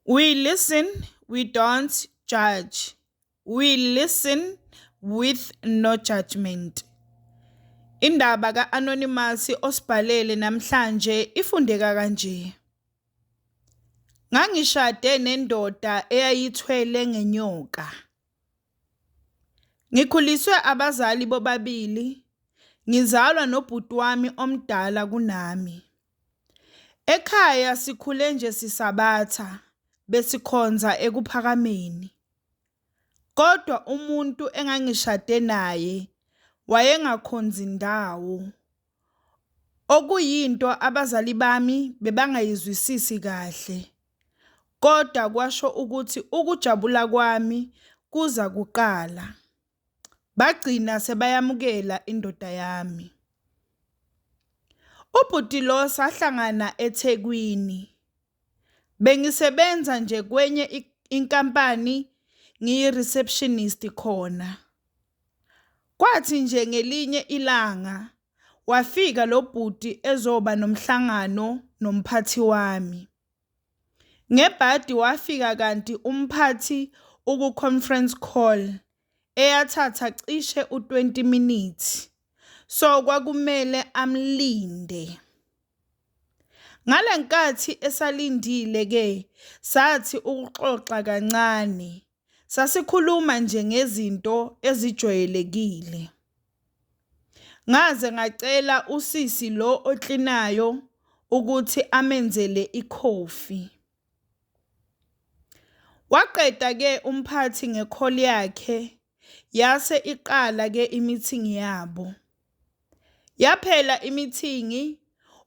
We listen, we don't judge. We listen with no judgment. Indaba ka-Anonymous osibhalele namhlanje ifundeka kanje. Ngangishade nendoda eyayithwele ngenyoka. Ngikhuliswe abazali bobabili, ngizalwa nobhuti wami omdala kunami. Ekhaya sikhule nje sisabatha besikhonza eKuphakameni, kodwa umuntu engangishade naye wayengakhonzi ndawo, okuyinto abazali bami bebangayizwisisi kahle, kodwa kwasho ukuthi ukujabula kwami kuza kuqala. bagcina sebayamukela indoda yami. Ubhuti lo sahlangana eThekwini. Bengisebenza nje kwenye inkampani ngiyi-receptionist khona. Kwathi nje ngelinye ilanga wafika lo bhuti ezoba nomhlangano nomphathi wami. Ngebhadi wafika kanti umphathi ukuconference call eyathatha cishe u-20 minutes so kwakumele amlinde. Ngalenkathi esalindile ke sathi ukuxoxa kancane Sasikhuluma nje ngezinto ezijwayelekile. Ngaze ngacela usisi lo oklinayo ukuthi amenzele ikhofi. Waqeda ke umphathi ngekholi yakhe yase iqala ke imithingi yabo. Yaphela imithingi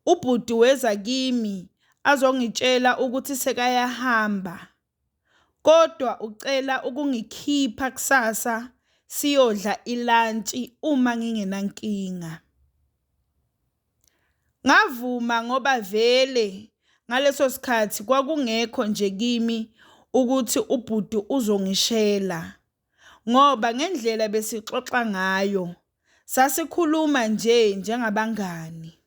ubhuti weza kimi azongitshela ukuthi sekayahamba. kodwa ucela ukungikhipha kusasa siyodla ilantshi uma ngingenankinga. Ngavuma ngoba vele ngaleso sikhathi kwakungekho nje kimi ukuthi ubhuti uzongishela ngoba ngendlela besixoxa ngayo sasikhuluma nje njengabangani.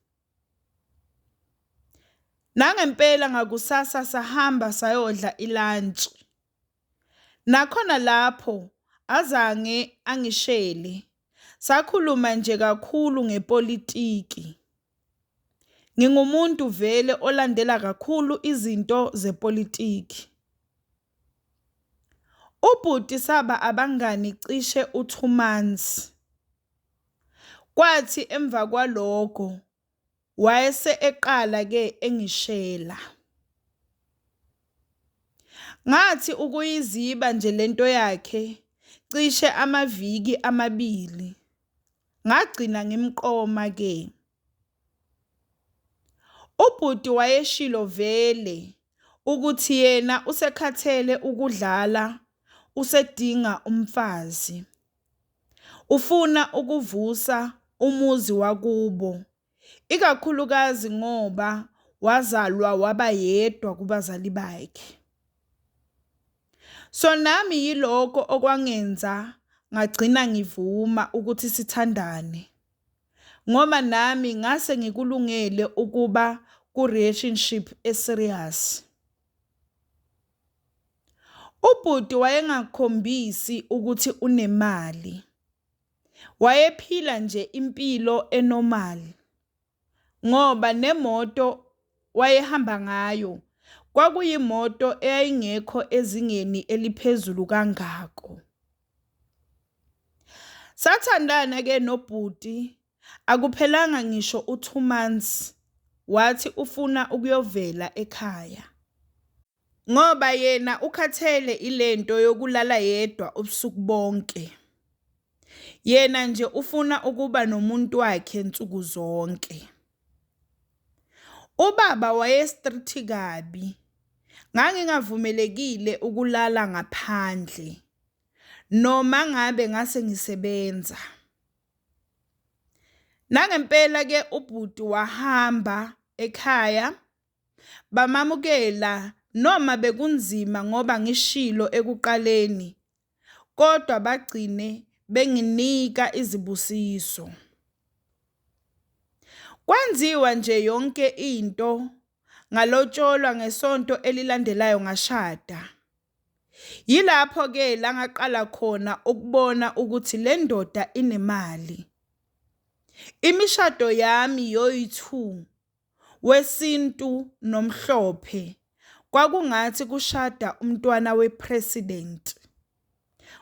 Nangempela ngakusasa sahamba sayodla ilantshi. Nakhona lapho azange angishele, sakhuluma nje kakhulu ngepolitiki. Ngingumuntu vele olandela kakhulu izinto zepolitiki. Ubhuti saba abangani cishe u-two months, kwathi emva kwalokho wayese eqala-ke engishela. Ngathi ukuyiziba nje le nto yakhe cishe amaviki amabili, ngagcina ngimqoma-ke. Ubhuti wayeshilo vele ukuthi yena usekhathele ukudlala usedinga umfazi. Ufuna ukuvusa umuzi wakubo, ikakhulukazi ngoba wazalwa waba yedwa kubazali bakhe. So nami yilokho okwangenza ngagcina ngivuma ukuthi sithandane. Ngoba nami ngase ngikulungele ukuba ku relationship e serious. Ubhuti wayengakhombisi ukuthi unemali. Wayephila nje impilo e normal ngoba nemoto wayehamba ngayo kwakuyimoto eyayingekho ezingeni eliphezulu kangako. Sathandana ke nobhuti akuphelanga ngisho u2 months wathi ufuna ukuyovela ekhaya ngoba yena ukhathele ilento yokulala yedwa ubusuku bonke. Yena nje ufuna ukuba nomuntu wakhe nsuku zonke. Ubaba waye-strict kabi, ngangingavumelekile ukulala ngaphandle noma ngabe ngase ngisebenza. Nangempela-ke ubhuti wahamba ekhaya bamamukela noma bekunzima ngoba ngishilo ekuqaleni kodwa bagcine benginika izibusiso. Kwenziwa nje yonke into ngalotsholwa ngesonto elilandelayo ngashada. Yilapho ke la ngaqala khona ukubona ukuthi le ndoda inemali. Imishado yami yoyi-two wesintu nomhlophe kwakungathi kushada umntwana we president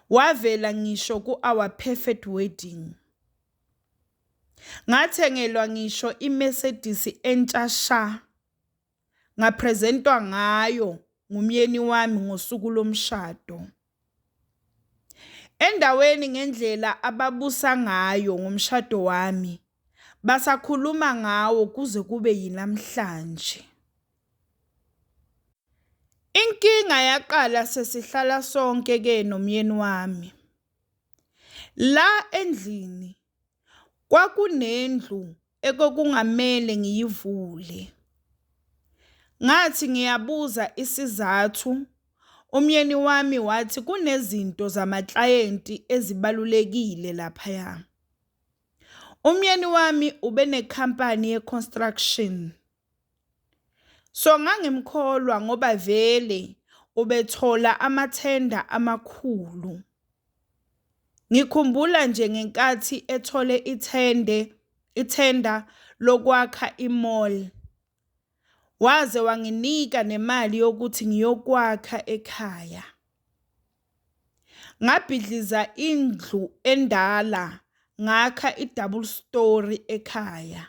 wavela ngisho ku our perfect wedding ngathengelwa ngisho iMercedes entsha sha ngapresentwa ngayo ngumyeni wami ngosuku lomshado Endaweni ngendlela ababusa ngayo ngomshado wami basakhuluma ngawo kuze kube yinamhlanje. Inkinga yaqala sesihlala sonke-ke nomyeni wami la endlini. Kwakunendlu ekokungamele ngiyivule. Ngathi ngiyabuza isizathu, umyeni wami wathi kunezinto zamaklayenti ezibalulekile laphaya. Umyeni wami ubenekhampani ye-construction. So ngangimkholwa ngoba vele ubethola amathenda amakhulu. Ngikhumbula nje ngenkathi ethole ithende ithenda lokwakha i-mall. Waze wanginika nemali yokuthi ngiyokwakha ekhaya. Ngabhidliza indlu endala ngakha i-double story ekhaya.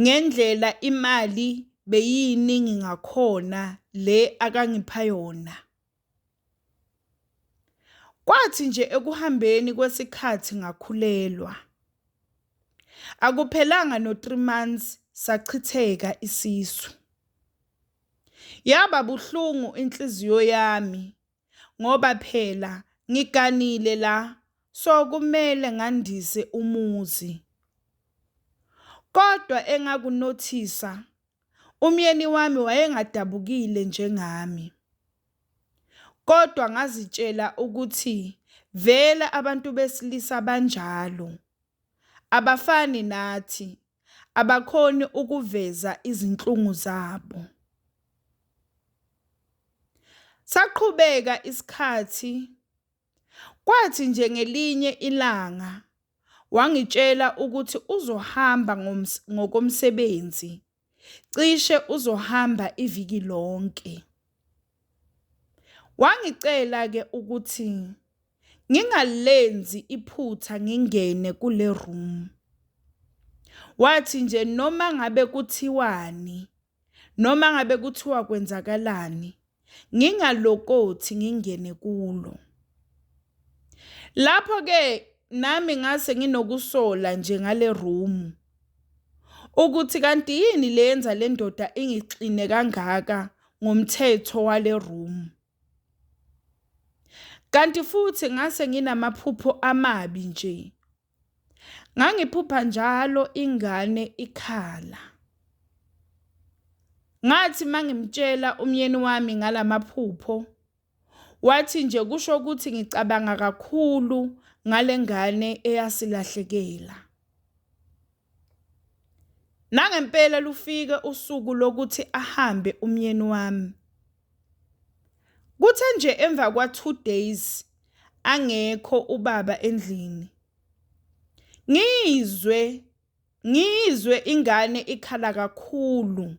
ngendlela imali beyiyiningi ngakhona le akangipha yona. Kwathi nje ekuhambeni kwesikhathi ngakhulelwa. Akuphelanga no 3 months sachitheka isisu. Yaba buhlungu inhliziyo yami ngoba phela ngiganile la so kumele ngandise umuzi. Kodwa engakunothisa umyeni wami wayengadabukile njengami. Kodwa ngazitshela ukuthi vele abantu besilisa banjalo. Abafani nathi Abakhoni ukuveza izinhlungu zabo. Saqhubeka isikhathi, kwathi nje ngelinye ilanga wangitshela ukuthi uzohamba ngokomsebenzi, cishe uzohamba iviki lonke. Wangicela-ke ukuthi ngingalenzi iphutha ngingene kule room. Wathi nje noma ngabe kuthiwani, noma ngabe kuthiwa kwenzakalani, ngingalokothi ngingene kulo. Lapho-ke nami ngase nginokusola nje ngale room ukuthi kanti yini le yenza le ndoda ingixine kangaka ngomthetho wale room. Kanti futhi ngase nginamaphupho amabi nje. Ngangiphupha njalo ingane ikhala. Ngathi mangimtshela umyeni wami ngalamaphupho Wathi nje kusho ukuthi ngicabanga kakhulu ngale ngane eyasilahlekela. Nangempela lufike usuku lokuthi ahambe umyeni wami. Kuthe nje emva kwa-two days angekho ubaba endlini, ngizwe. Ngiyizwe ingane ikhala kakhulu.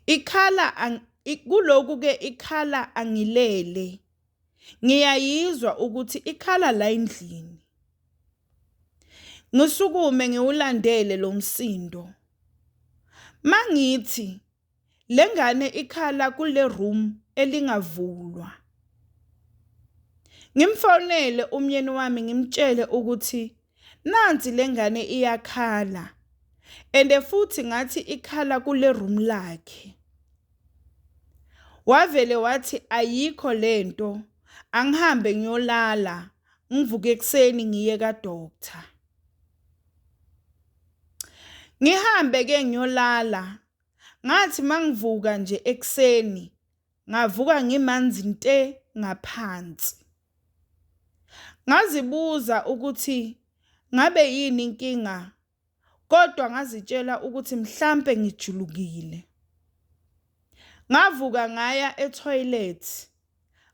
Ikhala kuloku ke ikhala angilele. Ngiyayizwa ukuthi ikhala la endlini. Ngisukume ngiwulandele lo msindo. Mangithi Lengane ikhala kule room elingavulwa. Ngimfonele umyeni wami ngimtshele ukuthi nansi lengane iyakhala. Ende futhi ngathi ikhala kule room lakhe. Wavele wathi ayikho lento angihambe ngiyolala ngivuke ekseni ngiye ka doctor. Ngihambe ke ngiyolala ngathi mangivuka nje ekuseni ngavuka ngimanzi nte ngaphansi. Ngazibuza ukuthi ngabe yini inkinga kodwa ngazitshela ukuthi mhlampe ngijulukile. Ngavuka ngaya e-toilet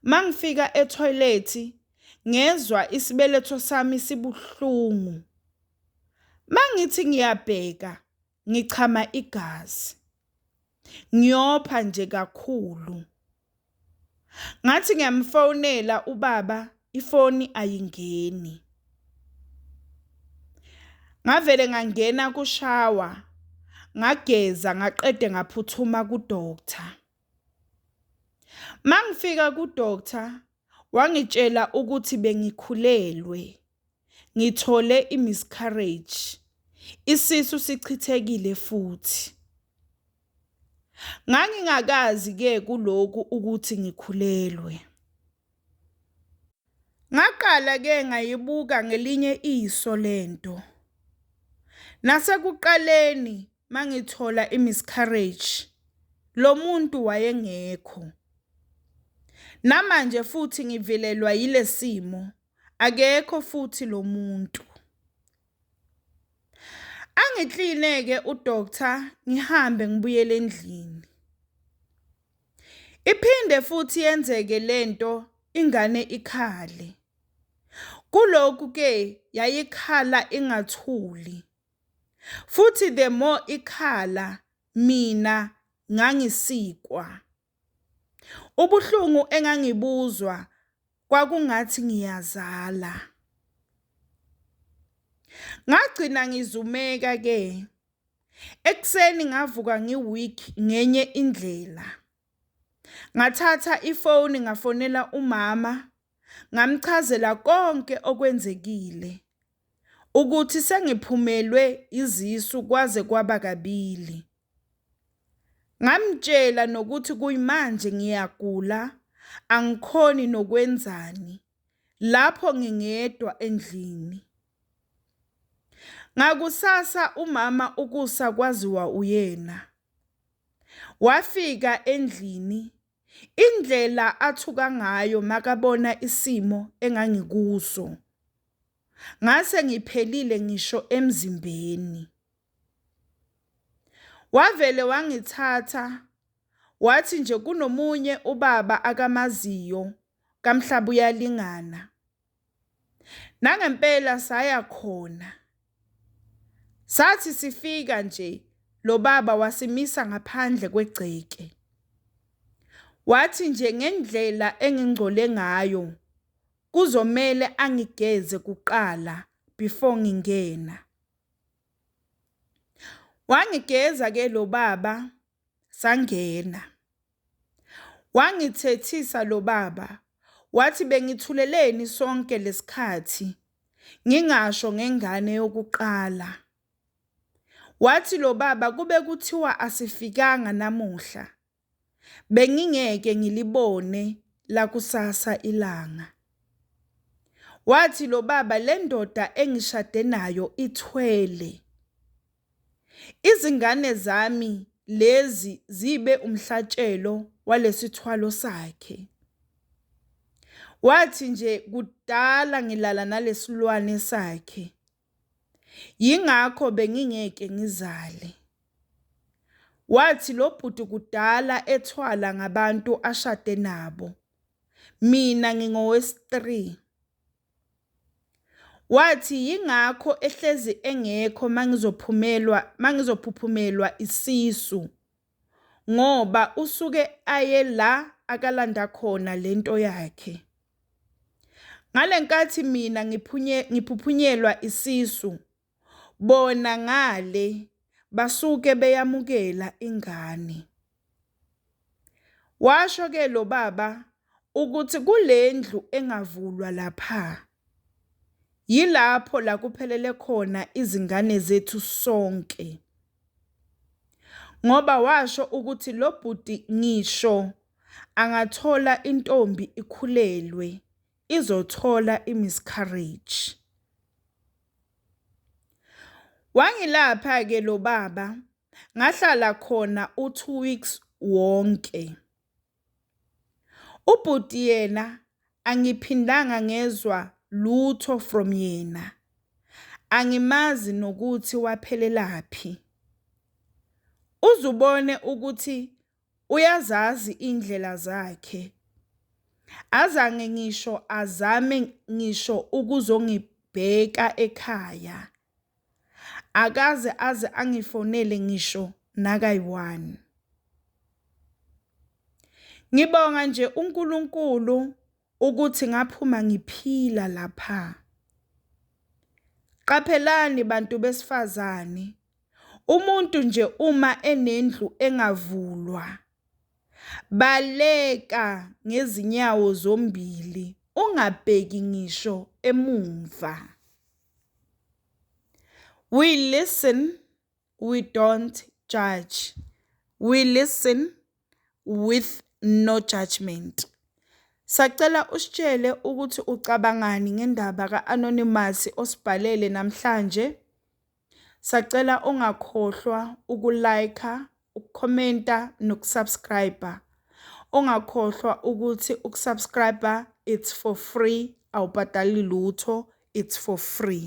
Mangifika ethoyilethi ngezwa isibeletho sami sibuhlungu. Mangithi ngiyabheka ngichama igazi. Ngiyopha nje kakhulu. Ngathi ngiyamfonela ubaba ifoni ayingeni. Ngavele ngangena kushawa ngageza ngaqede ngaphuthuma kudoctor. Mangifika ku-doctor wangitshela ukuthi bengikhulelwe, ngithole i-miscarriage, isisu sichithekile futhi. Ngangingakazi-ke kuloku ukuthi ngikhulelwe. Ngaqala-ke ngayibuka ngelinye iso le nto. Nasekuqaleni mangithola imiscarriage lo muntu wayengekho. Namanje futhi ngivelelwa yilesimo akekho futhi lo muntu. Angiklineke udoctor ngihambe ngibuyele endlini. Iphinde futhi yenzeke lento ingane ikhale. Kulokhu ke yayikhala ingathuli. Futhi the more ikhala mina ngangisikwa. Ubuhlungu engangibuzwa kwakungathi ngiyazala. Ngagcina ngizumeka ke. Ekseni ngavuka ngiweak ngenye indlela. Ngathatha ifoni ngafonela umama ngamchazela konke okwenzekile ukuthi sengiphumelwe izisu kwaze kwaba kabili. Ngamtshela nokuthi kuyimanje ngiyagula angikhoni nokwenzani lapho ngingedwa endlini. Ngakusasa umama ukusa kwaziwa uyena. Wafika endlini Indlela athuka ngayo makabona isimo engangikuso. Ngase ngiphelile ngisho emzimbeni. Wavele wangithatha wathi nje kunomunye ubaba akamaziyo kaMhlaba uyalingana. Nangempela saya khona. Sathi sifika nje lo baba wasimisa ngaphandle kwegceke. Wathi nje ngendlela engingcole ngayo kuzomele angigeze kuqala before ngingena. Wangigeza ke lo baba sangena wangithethisa lo baba wathi bengithuleleni sonke lesikhathi ngingasho ngengane yokuqala wathi lo baba kube kuthiwa asifikanga namuhla bengingeke ngilibone lakusasa ilanga wathi lo baba le ndoda engishade nayo ithwele Izingane zami lezi zibe umhlatshelo walesithwalo sakhe. Wathi nje kudala ngilala nalesilwane sakhe. Yingakho bengingeke ngizale. Wathi lobhuti kudala ethwala ngabantu ashade nabo. Mina ngingowesi-3. Wathi yingakho ehlezi engekho mangizophumelwa mangizophuphumelwa isisu ngoba usuke aye la akalanda khona lento yakhe. Ngalenkathi mina ngiphuphunyelwa isisu bona ngale basuke beyamukela ingane. Washo ke lo baba ukuthi kule ndlu engavulwa lapha yilapho la kuphelele khona izingane zethu sonke ngoba washo ukuthi lo bhuti ngisho angathola intombi ikhulelwe izothola imiscarriage. Wangilapha ke lo baba ngahlala khona u2 weeks wonke. Ubhuti yena angiphindanga ngezwa lutho from yena. Angimazi nokuthi waphelelaphi. Uzubone ukuthi Uyazazi indlela zakhe. Azange ngisho azame ngisho ukuzongibheka ekhaya. Akaze aze angifonele ngisho nakayi-one. Ngibonga nje uNkulunkulu ukuthi ngaphuma ngiphila lapha. Qaphelani bantu besifazane Umuntu nje uma enendlu engavulwa, baleka ngezinyawo zombili ungabheki ngisho emumva. We listen, we don't judge. We listen with no judgment. Sacela usitshele ukuthi ucabangani ngendaba ka-anonymous osibhalele namhlanje. Sacela ungakhohlwa uku like, uku commenta noku subscribe. Ungakhohlwa ukuthi uku subscribe it's for free awubhadali lutho it's for free.